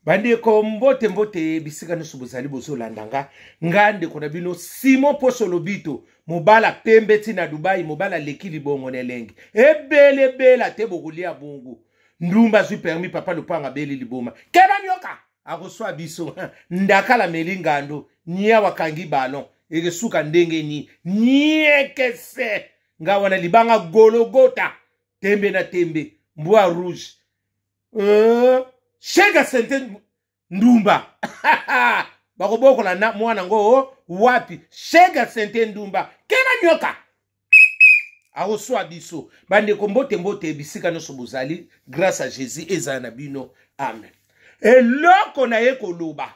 bandeko mbote mbote bisika nyonso bozali bozolanda nga nga ndeko na bino simon poso lobito mobala pembe ti na dubai mobala aleki libongo na elengi ebelebela te bokolia bongo ndumba azwi permi papa lopanga beli liboma keba nyoka akoswa biso ndakala meli ngando nia wakangi balon ekesuka ndenge ni niekese nga wana libanga gologota tembe na tembe mbwa rouge euh, shega sente ndumba bakobokola na mwana ngo wapi shega sente ndumba kena nyoka akoswa biso bandeko mbote mbote bisika nyonso bozali grâce à jésus ezala na bino amen eloko na ye koloba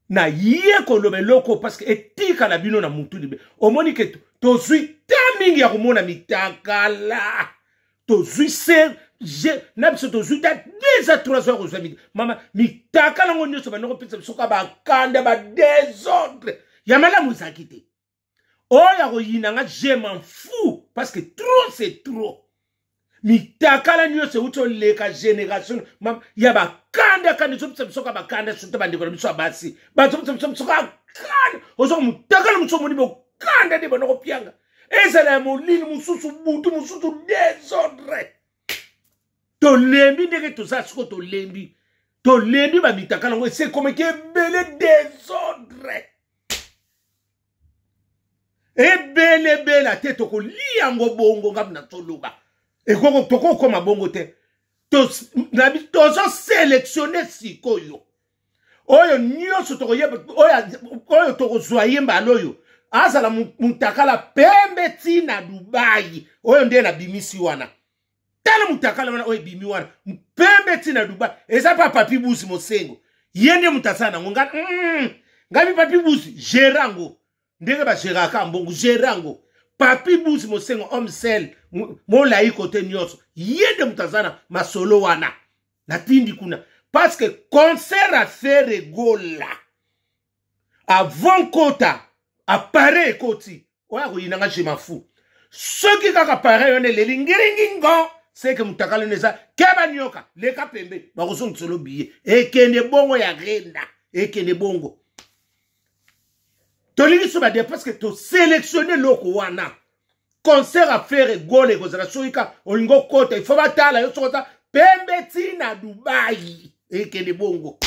na ye koloba eloko parce que etikala bino na mutu libe omoni ke tozwi te mingi ya komona mitakala tozwi se je na biso tozwi ta deux a trois heures kozwa mama mitakala yango nyonso bandoko mpesa biso ka bakanda badesordre ya malamu ezalaki te oyo akoyina nga je m'en fou parce que trop c'est trop mitakala nyonso euti oleka génération ya bakanda kanda ezopesa biso ka bakanda soki te bandeko na biso ya basi bazopesa biso biso ka kanda ozoka motakala mosusu omoni bokanda nde bana kopianga ezala ya molili mosusu butu mosusu desordre tolembi ndenge toza siko tolembi tolembi bamitakala yango esekomeki ebele desordre ebele ebela te tokolia yango bongo ngai na toloba ekoko tokokoma bongo te tozoselektione sikoyo oyo nyonso tokoyeba oyo tokozwa ye mbala oyo azala mutakala pembe ti na dubai oyo nde nabimisi wana tala mutakala wana oyo ebimi wana mpembe ti na dubai eza pa papi busi mosengo ye nde moto asala nango nga mm, ngabi papi busi gere yango ndenge bageraka mbongo gere yango papi busi mosengo homme sel molai kote nyonso ye nde moto aza na masolo wana natindi kuna parce que concert afere gola avant nkota appareil ekoti oya koyina nga je mafu soki kaka appareil wana eleli ngiringingo seke mutakala wana eza keba nioka leka pembe bakozongisa lo biye ekende bongo ya renda ekende bongo tolingi so bade parce que toselectionne eloko wana concert ya fere gole ekozala soki ka olingi okota ifo batala yo soki oza pembe ti na dubai ekende bongo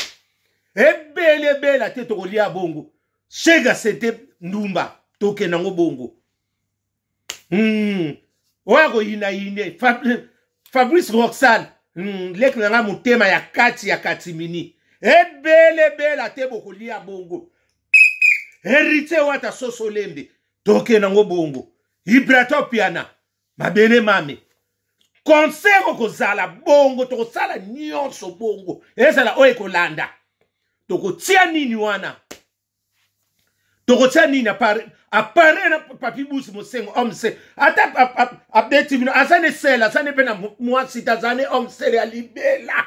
ebele ebela te tokolia bongo shega sete ndumba tokenda yango bongo mm. oyo akoyinayine fabrice roxal mm. leki na ngai motema ya kati ya katimini ebele ebela te bokolia bongo heritier wata soso lembe toke nango bongo ibratopiana mabele mame concert okozala bongo tokosala nyonso bongo ezala oyo ekolanda tokotia nini wana tokotia nini apare na papi busi mosengo omse ata abeti bino aza ne sele aza ne mpe na mwasi te aza ne omsele ya libela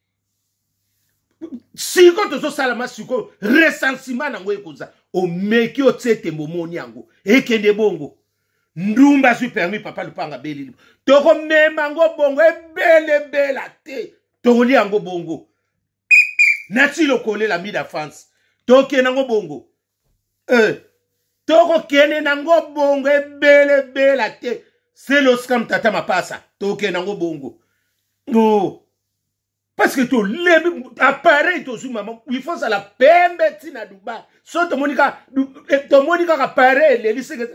sikoyo tozosalama sikoyo resansima nango ekoza omeki otie tembo omoni yango ekende bongo ndumba azwi permis papa lupanga belili tokomema yango bongo ebelebela te tokolia yango bongo nati lokolela mida france tokende yango bongo eh. tokokende nango bongo ebele ebela te seloskam tata mapasa tokokende nango bongo oh. parce que tolembi appareil tozwi mama il faut ozala pembe ntina dubai so tomoni kaka eh, appareil eleli seke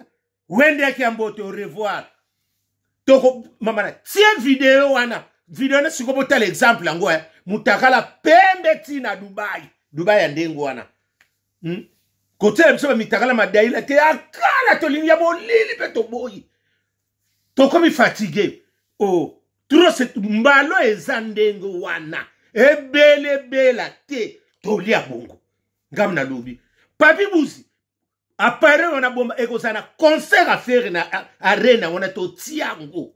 wende yaki ya mbote au revoir toko mamana tie video wana video wana sikoyo botala exemple yango eh. mutakala pembe ti na dubai dubai ya ndenge wana hmm? kotyela biso bamitakala madaila te ya kala tolingi ya molili mpe toboyi tokomi fatigue o oh, tros mbalo eza ndenge wana ebelebela te tolia bongo ngam nalobi papi buzi appareil wana bomba ekozala na concert ya fere na arena wana totia yango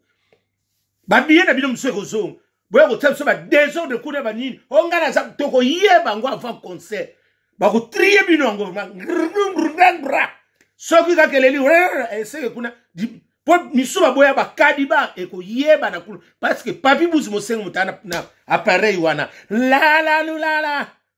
babiye na bino mosusu ekozonga boya kotia biso badesordre kuna banini onga naza tokoyeba yango avant concert bakotrie bino yango soki kaka eleli eseke kuna mpo misusu baboya bakadi ba ekoyeba na kuna parceke papi buzi mosengo motana na appareil wana lalalulala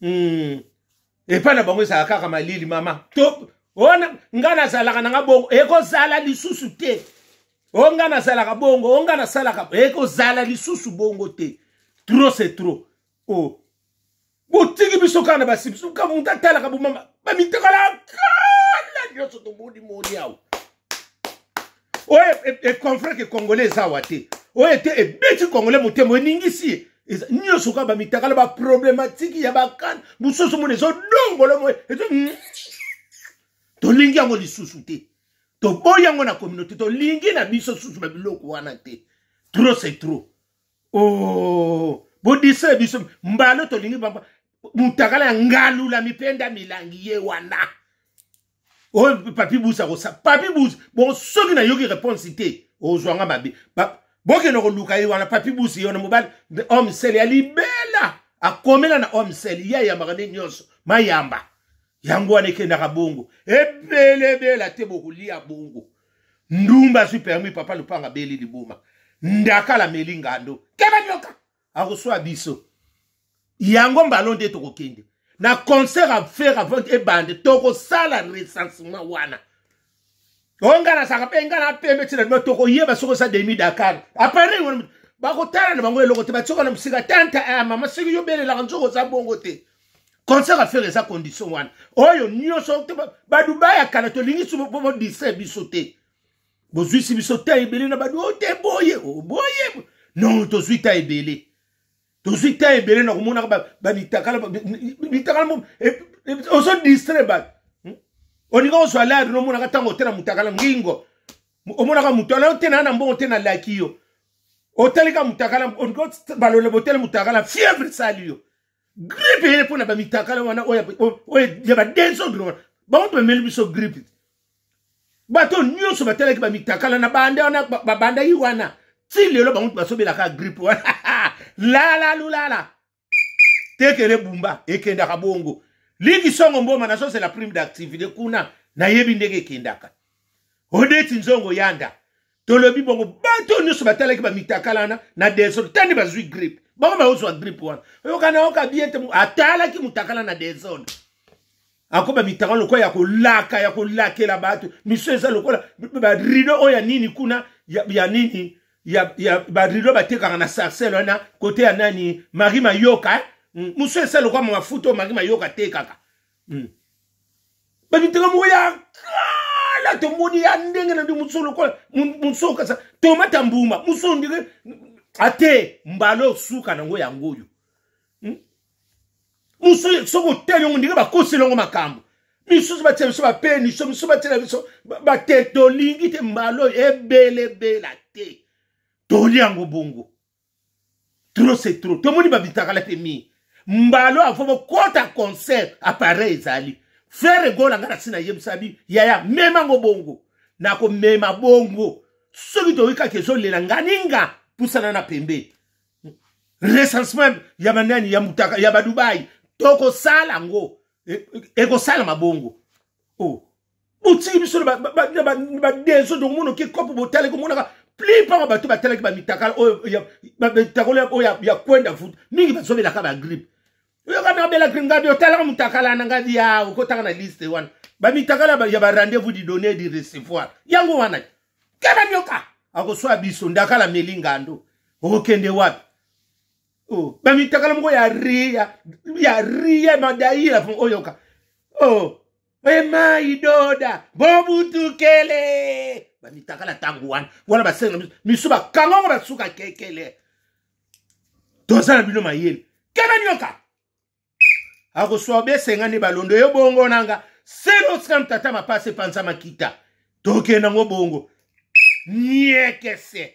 hmm. epai na bango ezala kaka malili mama to ona ngai nazalaka na nga bongo ekozala lisusu te o ngai nazalaka bongo o ngai nasalaka ekozala lisusu bongo te trop c'est trop o oh. botiki biso kaka na basi biso kaka moto atalaka bomama bamitekalaka kala nyonso tomoni moni awa oyo econfre ke congolais eza awa te oyo ete ebeti congolais motema eningisi ye eza nyonso kaka bamitakala baproblematike ya bakana mosusu mona ezodongolo moye ezo hmm. tolingi yango lisusu te toboyi yango na communauté tolingi na biso susu na biloko wana te trop c'est trop o oh, bodisa biso mbalo tolingi mutakala ya ngalula mipenda milangi ye wana oyo oh, papi bus akosa papi bus bon soki nayoki réponse te ozwa nga mabe bokende koluka ye wana papi bus ye wana mobali homme sel ya libela akomela na homme sel ye ayambaka nde nyonso mayamba yango wana ekendaka bongo ebele ebela te bokolia bongo ndumba azwi permis papa lupanga beli liboma ndakala meli ngando keba nyoka akoswa biso yango mbalo nde tokokende na concert a faire avant ebande tokosala recensement wana oyo ngai nasaka mpe ngai napembe ntina lima tokoyeba soki osa demi dakar apare wana bakotala na bango eloko te batioka na mosika tanta a eh, mama soki yobelelaka nzoka oza bongo te concert a faire eza condition wana oyo nyonso badubai ya kala tolingi bodistre biso te bozwisi biso ta ebele na badu ote oh, boye oh, boye non tozwi ta ebele tozwi ta ebele na komonaka bamitakala mitakala eh, eh, ozo distre bato hmm? olinga ozwa lari nomonaka ntango otena motakala ngingo omonaka moto ala otena na mbongo te nalaki yo otalika motakala balola botele motakala fièvre esali yo gripe eye mpo na bamitakala wana oyo ya badesordre wana bango bameli biso gripe bato nyonso batalaki bamitakala na banda wana babandaki wana ti lelo bango basobelaka gripe wana lala lulala tekele bumba ekendaka bongo liki songo mboma nazozela prime d'activité kuna nayebi ndenge ekendaka odeti nzongo yanda tolobi bongo bato oyo nyonso batalaki bamitakala wana na desordre tani bazwi grippe bango baozwa grippe wana oyokana oka bien te atalaki motakala na desordre akoba mitaka lokola ya kolaka ya kolakela bato miso eza lokola barido oyo ya nini kuna ya, ya nini ya, ya barido batekaka na sarcel wana kote ya nani mari mayoka eh? Mm, mosu esali lokola mafuta oyo mari mayoka atekaka hmm. bamitaka moko ya kala tomoni ya ndenge na nde mosusu lokola mosusu kasa tomata mbuma mosusu ndenge ate mbala osuka nango yango oyo hmm? mosusu soki otali yango ndenge bakoseli yango makambo misusu batia biso bapeniso misusu batiela biso bate tolingi te mbala oyo ebelebela te toli yango bongo trop c'est trop tomoni babitakala te mingi mbalo avant bokota concert appareil ezali frere egola ngai nasi nayebisa bi yaya mema yango bongo nakomema bongo soki toyoki kaka ezolela nganinga pusana na pembe recensement ya banani ya mutaka ya badubai tokosala yango e, e, ekosalama bongo o oh. botiki biso na badeso tokomona oke kopo botali komonaka plupart ya bato batalaki bamitakala oyo mitakala oyo ya kwenda futa mingi bazobelaka bagripe oyoka nabela gripe ngadi otalaka motakala na ngadi ya okotaka na liste wana bamitakala ya barendez-vous du donner du recevoir yango wana keba nyoka akoswa biso ndakala meli ngando okokende wapi oh. bamitakala moko ya ria ya ria madaila oyoka oh. ema idoda bobutukele bamitakala ntango wana wana basenga misu bakanga ngo basuka kekele toza na bino mayele kena nyoka akoswa besenga nde balondo yo bongo nanga seloskan tata mapasi epanza makita tokenda ngo bongo niekese